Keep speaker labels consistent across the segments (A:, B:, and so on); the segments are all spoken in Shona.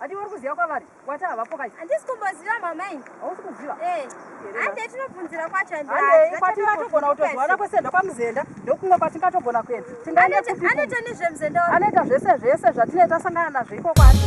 A: Ati uri kuziva kwavari wati havapo kaizi. Handisi kumboziva mama
B: ini. Hausi kuziva? Eh.
A: Hande
B: tinobvunzira kwacho hande. Hande kwati
A: vatogona kutozwana kwese ndokwamuzenda ndokumwe kwatingatogona kuenda. Tingaende kupi? Anoita
B: nezvemuzenda. Anoita zvese zvese
A: zvatineta sangana nazvo iko kwacho.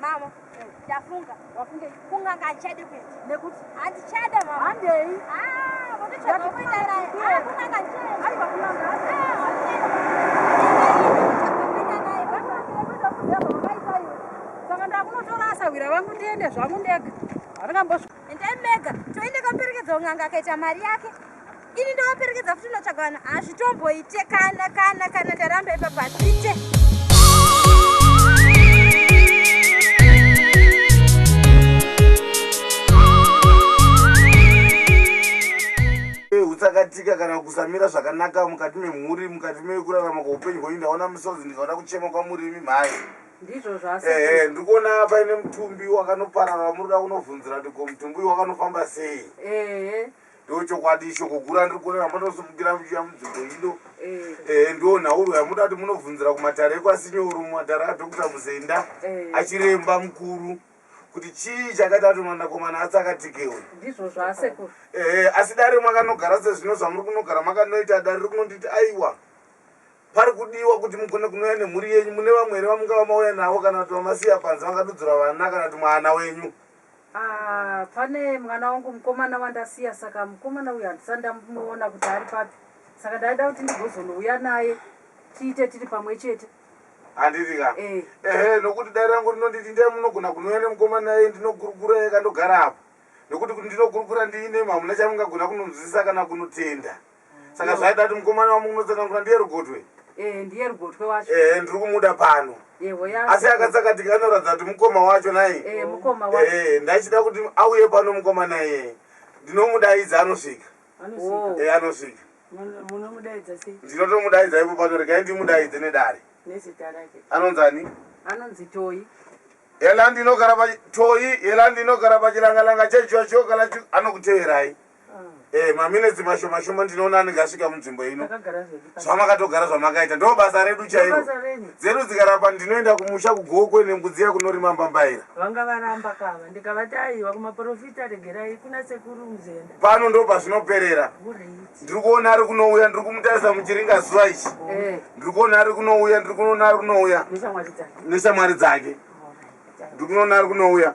B: Mama, ndafunga. Wafunge
A: kunganga achade
B: kuenda. Nekuti handichade
A: mama.
B: Handei.
A: Ah,
B: votochada
A: kuenda naye. Ah, kunganga achade. Hai vakunganga. Ah, handei. Saka ndakunotorasa wira vangu ndiende zvangu ndega. Handingambosvika. Endai mega.
B: Toende kamperekedza unganga akaita mari yake. ini ndovaperekedza futi unotsvaga vanhu hazvitomboite kana kana kana ndaramba ipapa hazviite
C: utsakatika kana kusamira zvakanaka mukati memhuri mukati mekurarama kweupenyu hwenyu ndaona misodzi ndikaona kuchema kwamurimi mhai
A: ehe ndiri kuona
C: paine mutumbi wakanoparara muri kuda kunobvunzira kuti ko mutumbi uyu wakanofamba sei Ndo chokwadi shoko guru andiri kuona ramba ndosimukira muchiya munzvimbo ino Eh, ehe ndo nhauro yamuda kuti munobvunzira kumatare ekwasinyoro mumatare adokta muzenda Eh. achiremba mukuru kuti chii chakaita kuti mwanakomana atsakatike uyu ndizvo zvaasekuru
A: ehe asi dare
C: mwakanogara sezvino zvamuri kunogara makanoita dare riri kunonditi aiwa pari kudiwa kuti mugone kunouya nemhuri yenyu mune vamwe here vamungava mauya navo kana kuti vamasiya panze vakadudzura vana kana kuti mwana wenyu Ahh
A: pane mwana wangu mukomana wandasiya saka mukomana uyu handisati ndamuona kuti ari papi saka ndaida kuti ndigozonouya naye tiite tiri pamwe chete. Handiti ka?
C: Eh. Ehe nokuti dare rangu rinonditi ndiyai munogona kunouya nemukomana iye ndinogurugura ega ndogara apa. Nokuti kuti ndinogurugura ndiine imwe hamuna chamungagona kunonzwisisa kana kunotenda. saka zvaida kuti mukomana wamukunotsanangura ndiye rugotwe eh, ndiye rugotwe
A: wacho eh, eh, ndiri kumuda pano
C: asi akatsakatika anoratidza kuti mukoma wacho nai
A: ndaichida kuti auye
C: pano mukoma naye ndinomudaidza anosvika anosvika
A: ndinotomudaidza ipo pano
C: regai ndimudaidze nedare
A: anonzi ani
C: anonzi toyi
A: yela
C: ndinogara patoyi yela ndinogara pachilangalanga chechocho kana anokuteverai Eh, maminetsi mashoma shoma ndinoona anenge asvika munzvimbo ino zvamakatogara zvamakaita ndo basa redu chairo dzedu dzikarapa ndinoenda kumusha kugokwe nembudziya kunorima mbambaira vanga varamba
D: kava ndikavati aiwa kumaprofita regerai kuna sekuru muzenda pano ndo pazvinoperera
C: ndiri kuona ari kunouya ndiri kumutarisa muchiringa zuva ichi eh. ndiri kuona ari kunouya ndiri kunoona ari kunouya neshamwari dzake ndiri kunoona ari kunouya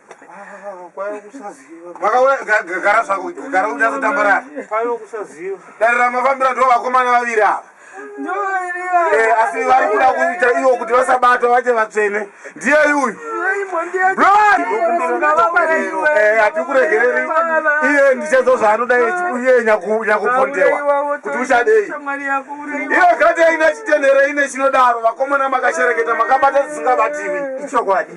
E: makagara
C: zvako gara udazotambarara
E: darira mafambira ndo
C: vakomana vaviri ava eh, asi vari kuda kuita ivo kuti vasabatwa vache vatsvene ndiye yuyu hatikuregereri iye ndichadzo zvaanoda iye nyakupondewa kuti uchadei iyo gati aina chitenhere ine chinodaro vakomana makashereketa makabata dzisingabativi ichokwadi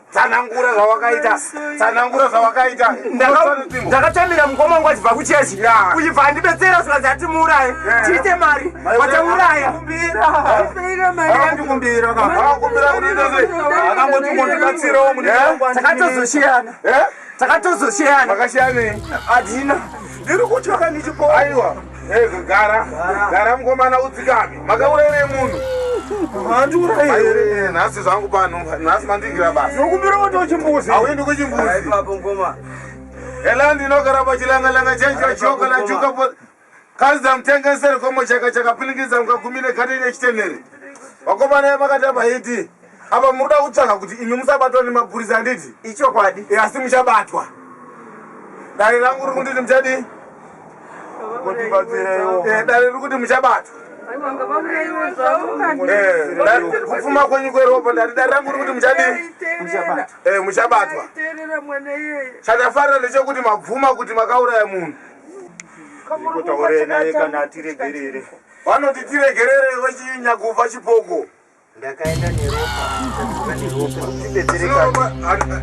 C: tsanangura zvawakaita tsanangura zvawakaita ndakatamira
F: mukoma wangu achibva kuchechi uchibva andibetsera zvikanzi ati muuraye tiite mari watauraya
C: takatozoshiyana takatozoshiyana
F: makashiyanei
C: adina
F: ndiri kutya
C: kanichipo aiwa Ego gara gara mkomana udzikame makaurere munhu handiuraire nhasi zvangu pano nhasi mandigira basa nokumbira kuti uchimbuzi
E: hauendi kuchimbuzi ipapo
C: mkoma ela ndinogara pachilangalanga chanjo choka la chuka po kaza mtengesere komo chaka chakapiningidza mukagumine kati nechitenere vakomana makatamba hiti Apa muri kuda kutsvaga kuti imi musabatwa nemapurisa handiti? Ichokwadi. E, asi
F: muchabatwa.
C: Dare rangu riri kunditi muchadii? Mundibatsireiwo. E, dare riri kuti muchabatwa. Eh, kupfuma kwenyu kweropa ndati dare rangu rikuti muchadii eh, muchabatwa chatafarira ndechekuti mabvuma kuti makauraya munhu
E: kutaurei naye kana atiregerere vanoti
C: tiregerere vachinyakuva chipoko
F: ndakaenda neropa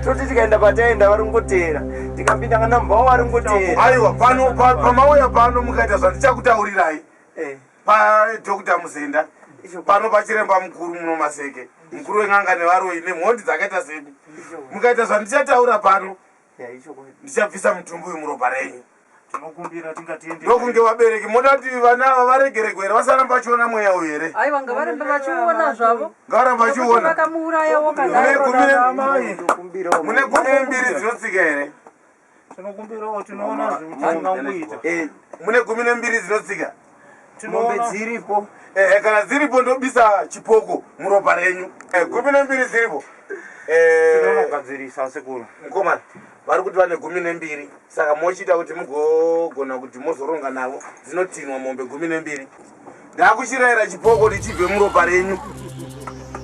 F: toti tikaenda pataenda vari kungoteera tikapinda kana mbao vari kungoteera aiwa pano
C: pamauya pano mukaita zvandichakutaurirai eh. padokta muzenda pano pachiremba mukuru muno maseke mukuru wen'anga nevaroi nemhondi dzakaita zedi mukaita zvandichataura pano ndichabvisa mutumbi uyu muropa renyu tinokumbira
E: tingati ende ndokunge vabereki moda
C: kuti vana ava varegeregwe here vasaramba vachiona mweya uyu here aiwa ngavaramba vachiona
A: zvavo ngavaramba vachiona
C: vakamuurayawo
A: mune gumi
C: mbiri dzinotsika here tinokumbirawo
E: tinoona zvemutananguita eh, mune gumi
C: nembiri dzinotsika mombe
F: dziripo ehe kana dziripo
C: ndobisa chipoko muropa renyu eh, gumi nembiri dziripo eh, tinonogadzirisa
E: sekuru mukomana vari
C: kuti vane gumi nembiri saka mochiita kuti mugogona kuti mozoronga navo dzinotinwa mombe gumi nembiri ndakuchirayira chipoko ndichibve muropa renyu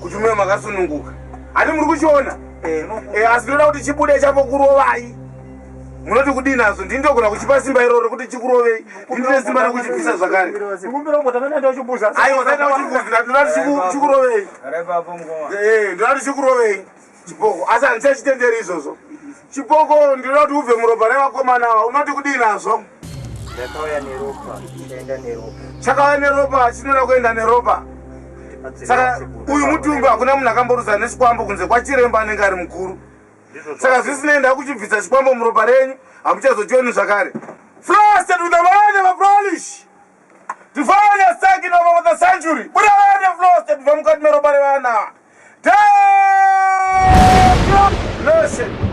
C: kuti muye makasununguka hati muri kuchiona eh, asi ndinoda kuti chibude chapo kurovai munoti kudii nazvo ndini ndogona kuchipa simba iroro kuti chikurovei ndine simba rekuchipisa zvakare aiwa kaita
E: uchibvunzira ndinati
C: chikurovei eh, ndinati chikurovei chiboko asi handichachitenderi izvozvo chiboko ndinoda kuti ubve muropa revakomana ava unoti kudii nazvo
F: chakauya neropa
C: chinoda kuenda neropa saka uyu mutumbi hakuna munhu akamboruza nesikwambo kunze kwachiremba anenge ari mukuru saka zvisinei ndakuchibvisa chikwambo muropa renyu hamuchazochioni zvakare frosted with the mind of a polish tifanye second of over the century buravane frosted bva mukati meropa revana Listen.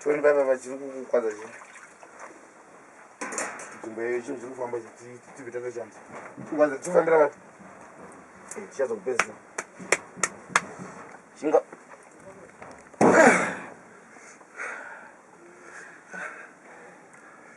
C: Tony baba vachiri kukukwadza zve. Nzvimbo yeyo chinhu chiri kufamba tibve tatoshanda. Kukwadza tifambira vati. Eh, Tichazo kupedzisa. Shinga.